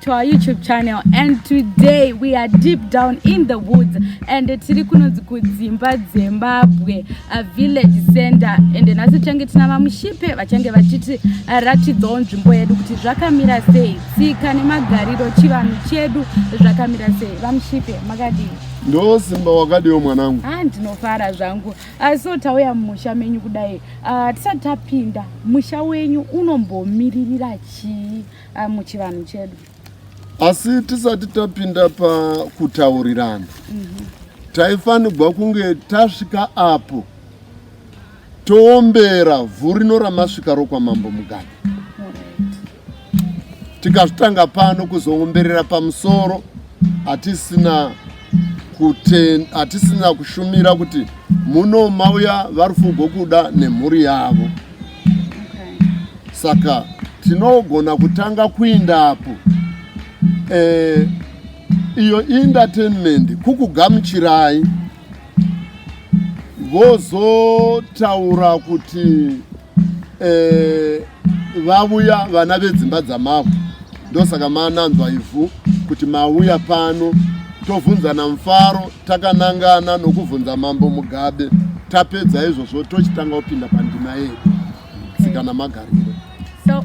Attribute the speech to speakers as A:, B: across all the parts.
A: to our youtube channel and today we are deep down in the woods and tiri kunonzi kudzimba dzembabwe a village center and nhasi tichange tina vamushipe vachange vachiti uh, ratidzawo nzvimbo yedu kuti zvakamira sei tsika nemagariro chivanhu chedu zvakamira sei vamushipe makadii ndosimba
B: wakadiwo mwanangu ah, ndinofara zvangu
A: Ah, so tauya mumusha menyu kudai ah, tisati tapinda musha wenyu unombomiririra chii ah, muchivanhu chedu asi
B: tisati tapinda pakutaurirana mhm. taifanirwa kunge tasvika apo toombera vhurino ramasvika rokwamambo mugadi tikazvitanga pano kuzoomberera pamusoro hatisina hatisina kushumira kuti muno mauya varufugo kuda nemhuri yavo saka tinogona kutanga kuindapo e, iyo entertainment kukugamuchirai vozotaura kuti eh, vavuya vana vedzimba dzamavhu ndosaka mananzwa ivhu kuti mauya pano tovhunzana mufaro takanangana nokuvhunza mambo mugabe tapedza izvozvo tochitanga kupinda pandima yedu tsika namagariro
A: so,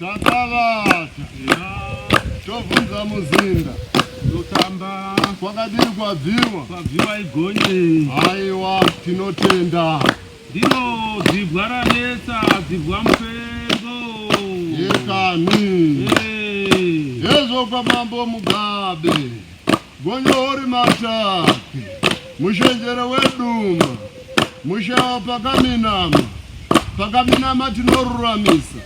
B: Takavata tobvunza muzinda totamba
C: kwakadini
B: kwabviwa kwabviwa igonye
C: haiwa
B: tinotenda ndiro
C: dzibwa ranetsa dzibwa mupengo yekani
B: hezvo kwamambo mugabe Gonyori mataki mushenjere weduma mushawa pakaminama pakaminama tinoruramisa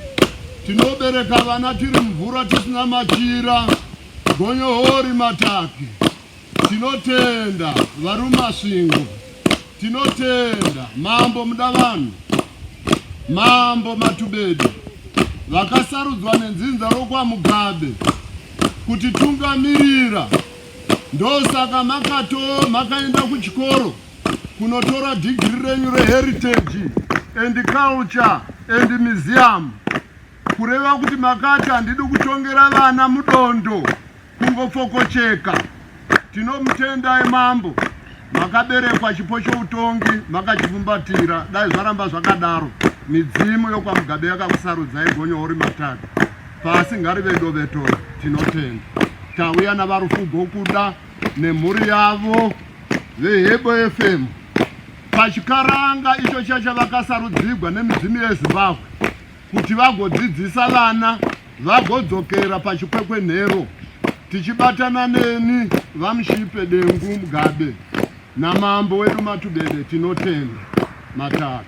B: tinobereka vana tiri mvura tisina machira gonyohori mataki tinotenda varumasvingo tinotenda mambo muda vanhu mambo matubedi vakasarudzwa nenzinza rokwamugabe kutitungamirira ndosaka makato makaenda kuchikoro kunotora dhigiri renyu reheritage and culture and museum kureva kuti makati handidi kutongera vana mudondo kungofokocheka Tinomutendai mambo makaberekwa chipo choutongi makachivumbatira dai zvaramba zvakadaro midzimu yokwamugabe yakakusarudzai gonyo uri matatu pasi ngarive dovetoro tinotenda tauya navarufugo kuda nemhuri yavo vehebo fm pachikaranga icho chachavakasarudzigwa nemidzimu yezimbabwe kuti vagodzidzisa vana vagodzokera pachikwekwenhero tichibatana neni vamushipe dengu mugabe namambo wedu matubede tinotenda mataka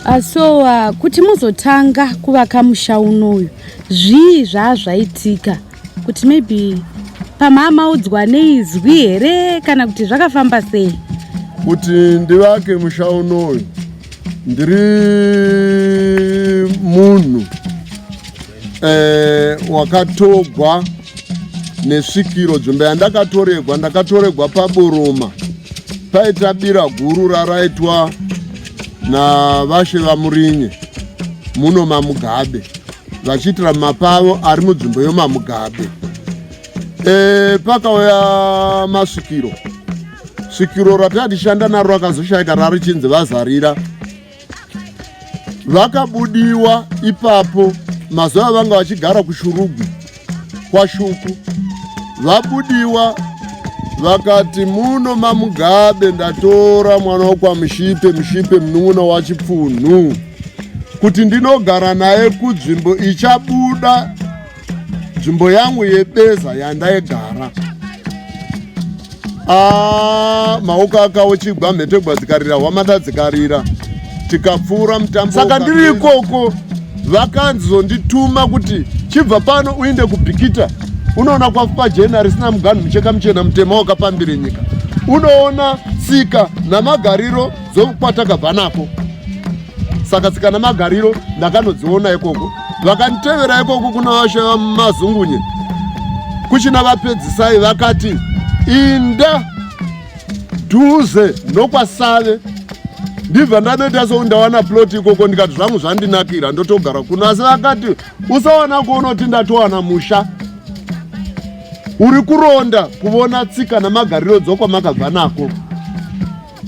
A: ah, so uh, kuti muzotanga kuvaka musha unoyu zvii zvaazvaitika kuti maybe pamamaudzwa neizwi here kana kuti zvakafamba sei kuti
B: ndivake musha unoyu ndiri munhu eh, wakatogwa nesvikiro dzvimbo yandakatoregwa ndakatoregwa paburuma paita bira guru raraitwa navashe vamurinye muno mamugabe vachiitira mapavo ari munzvimbo yomamugabe e, pakauya masvikiro svikiro ratatishanda naro rakazoshaika rarichinzi vazarira vakabudiwa ipapo mazuva avanga vachigara kushurugwi kwaShuku vabudiwa vakati muno mamugabe ndatora mwana wokwamushipe mushipe munun'una wachipfunhu kuti ndinogara naye kudzvimbo ichabuda nzvimbo yangu yebeza yandaigara Ah, maoko akawo chigwa mhete gwadzikarira hwamada dzikarira tikapfuura mutambo saka ndiri ikoko vakanzi zondituma kuti chibva pano uinde kubhikita unoona kwafupa jena risina muganhu mucheka muchena mutema wakapambire nyika unoona tsika namagariro zvokukwata kabva nako saka tsika nemagariro ndakanodziona ikoko vakanditevera ikoko kuna vashe vamazungunye kuchina vapedzisai vakati inda dhuze nokwasave ndibva ndanoita sou ndawana ploti ikoko ndikati zvangu zvandinakira ndotogara kuno asi vakati usawana kuonoti ndatowana musha uri kuronda kuvona tsika namagariro dzokwamakabva nako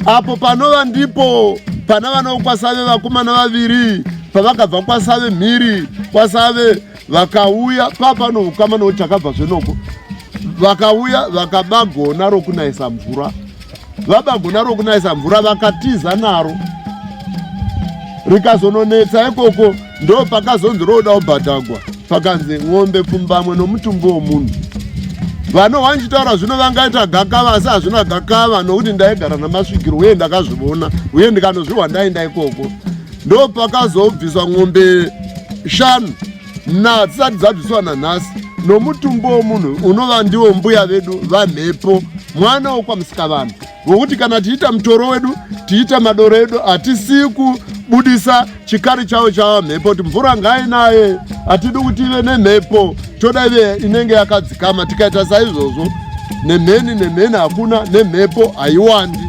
B: apo panova ndipo pana vana vokwasave vakomana vaviri pavakabva kwasave mhiri kwasave vakauya papano ukama no chakabva zvenoko vakauya vakaba gona rokunaisa mvura vaba gona rokunaisa mvura vakatiza naro rikazononetsa ikoko ndo pakazonzi roda ubhadhagwa pakanzi n'ombe pfumbamwe nomutumbi womunhu vano wanchitaura zvino vangaita gakava asi hazvina gakava nokuti ndaigara namasvikiro uye ndakazvivona uye ndikanozvihwa ndaenda ikoko ndo pakazobviswa n'ombe shanu na dzisati dzabviswa nanhasi nomutumbi womunhu unova ndiwo mbuya vedu vamhepo mwana wokwamusikavanhu Ngokuti kana tiita mutoro wedu, tiita madoro edu, hatisi kubudisa chikari chavo chava mhepo, kuti mvura ngainaye, hatidi kuti ive nemhepo, toda ive inenge yakadzikama. Tikaita saizvozvo, nemheni nemheni hakuna, nemhepo haiwandi.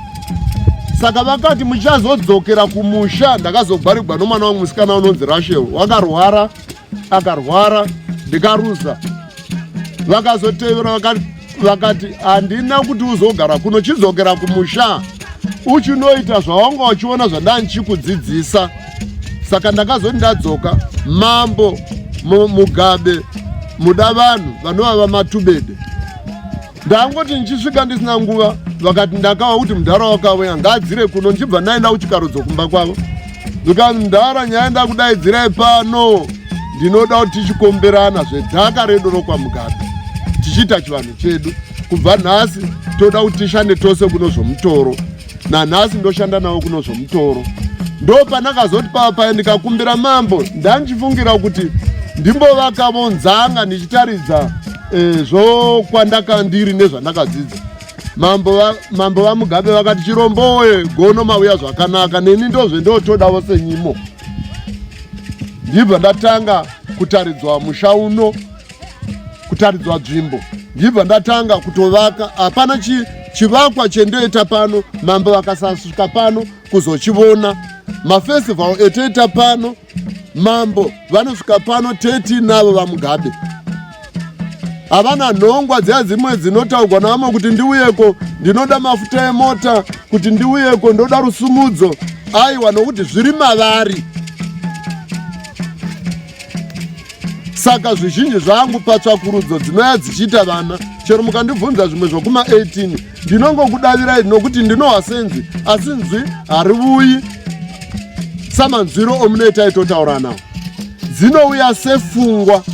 B: Saka vakati muchazodzokera kumusha. Ndakazogwarigwa nomwana wangu musikana unonzi Rashel, wakarwara. akarwara ndikaruza vakazotevera vakati handina kuti uzogara kuno chidzokera kumusha uchinoita zvawanga uchiona zvandandichikudzidzisa saka ndakazoti ndadzoka mambo mugabe muda vanhu vanova vamatubede ndangoti ndichisvika ndisina nguva vakati ndakava kuti mudhara wakauya ngaadzire kuno ndichibva ndaenda kuchikaro dzokumba kwavo zvikanzi mudhara nyaya ndakudaidzirai pano ndinoda kuti tichikomberana zvedhaka redu rokwamugabe tichiita chivanhu chedu kubva nhasi toda kuti tishande tose kuno zvomutoro nanhasi ndoshanda nawo kuno zvomutoro ndo pandakazoti pava paye ndikakumbira mambo ndandichifungira kuti ndimbovakavo nzanga ndichitaridza e, zvokwandaka ndiri nezvandakadzidza mambo vamugabe vakati chiromboye gono mauya zvakanaka neni ndozve ndotodavo senyimo ndibva ndatanga kutaridzwa musha uno kutaridzwa dzvimbo ndibva ndatanga kutovaka hapana chi, chivakwa chendoita pano mambo vakasasvika pano kuzochivona mafestival etoita pano mambo vanosvika pano 13 navo vamugabe havana nhongwa dziya dzimwe dzinotaurwa navamwe kuti ndiuyeko ndinoda mafuta emota kuti ndiuyeko ndoda rusumudzo aiwa nokuti zviri mavari saka zvizhinji zvangu patsvakurudzo dzinouya dzichiita vana chero mukandibvunza zvimwe zvokuma18 ndinongokudavirai nokuti ndinohwa senzi asi nzwi harivuyi samanzwiro omunoita itotauranawo dzinouya sefungwa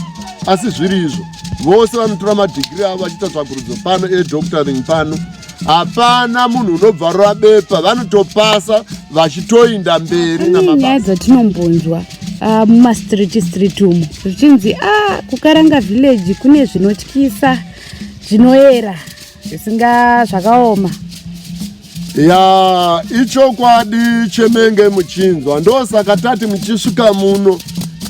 B: asi zviri izvo vose vanotora madhigiri avo vachiita tsvakurudzo pano edoctoring pano hapana munhu unobvarura bepa vanotopasa vachitoinda mberi nyaya dzatinombonzwa
A: ah, mumastreet street umo zvichinzi a ah, kukaranga village kune zvinotyisa zvinoera zvisinga zvakaoma ya
B: ichokwadi chemenge muchinzwa ndosaka tati muchisvika muno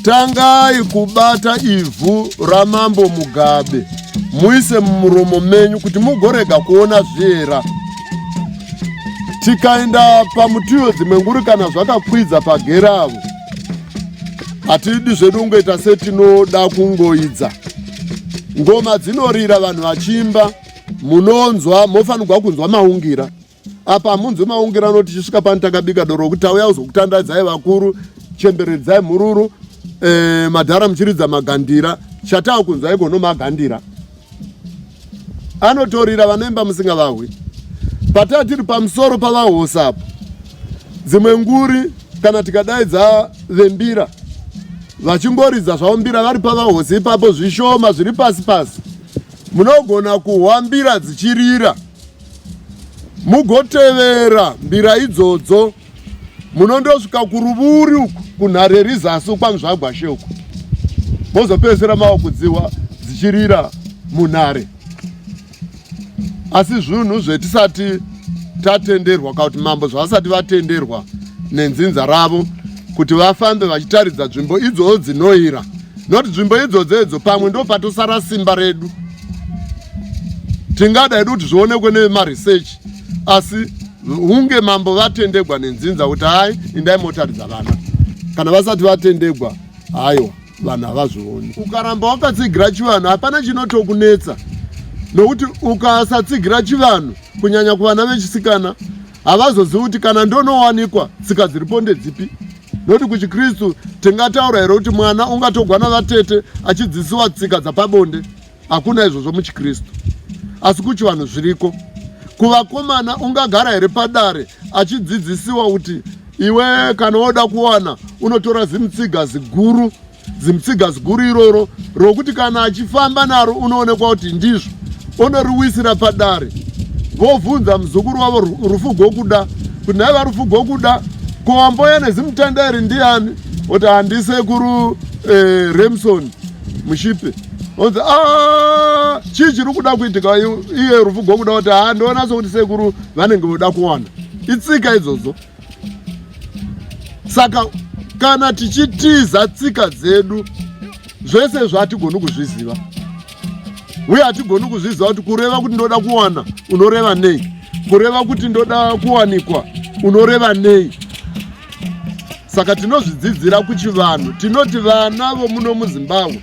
B: tangai kubata ivhu ramambo mugabe muise mumuromo menyu kuti mugorega kuona zviera tikaenda pamutiyo dzimwe nguri kana zvakakwidza pageravo hatidi zvedu kungoita setinoda kungoidza ngoma dzinorira vanhu vachiimba munonzwa mofanirwa kunzwa maungira apa hamunzwi maungirano tichisvika pano takabika doro rokuti tauya kuzokutandadzai vakuru chemberedzai mhururu e, madhara muchiridza magandira chatava kunzwa iko no magandira anotorira vanoimba musinga vahwi pataa tiri pamusoro pavahosa apo dzimwe nguri kana tikadaidza vembira vachingoridza zvavo mbira vari pavahosi ipapo zvishoma zviri pasi pasi munogona kuhwa mbira dzichirira mugotevera mbira idzodzo munondosvika kuruvuri uku kunhare rizasi ukwanzvagwashe uku mozopedzisira mawakudziwa dzichirira munhare asi zvinhu zvetisati tatenderwa kana kuti mambo zvavasati vatenderwa nenzinza ravo kuti vafambe vachitaridza nzvimbo idzodzo dzinoira not nzvimbo idzodzo idzo pamwe ndopatosara simba redu tingada hedu kuti zvionekwe nemaresearch asi hunge mambo vatendegwa nenzinza kuti hai indai motaridza vana kana vasati vatendegwa haiwa vanhu havazvioni ukaramba wakatsigira chivanhu hapana chinotokunetsa nokuti ukasatsigira chivanhu kunyanya kuvana vechisikana havazozivi kuti kana ndonowanikwa tsika dziripo ndedzipi noti kuchikristu tingataura here kuti mwana ungatogwa navatete achidzidzisiwa tsika dzapabonde hakuna izvozvo muchikristu asi kuchivanhu zviriko kuvakomana ungagara here padare achidzidzisiwa kuti iwe kana woda kuwana unotora zimutsiga ziguru zimutsiga ziguru iroro rokuti kana achifamba naro unoonekwa kuti ndizvo onoriwisira padare vobvunza muzukuru wavo rufu gokuda kuti nhaiva rufu gokuda ko wamboya nezimutanda iri ndiani oti handisekuru eh, remson mushipe onzi ah, chii chiri kuda kuitika iye rufu gokuda kuti handiona sokuti sekuru vanenge voda kuwana itsika idzodzo saka kana tichitiza tsika dzedu zvese izvo hatigoni kuzviziva uye hatigoni kuzviziva kuti kureva kuti ndoda kuwana unoreva nei kureva kuti ndoda kuwanikwa unoreva nei saka tinozvidzidzira kuchivanhu tinoti vana vomuno muzimbabwe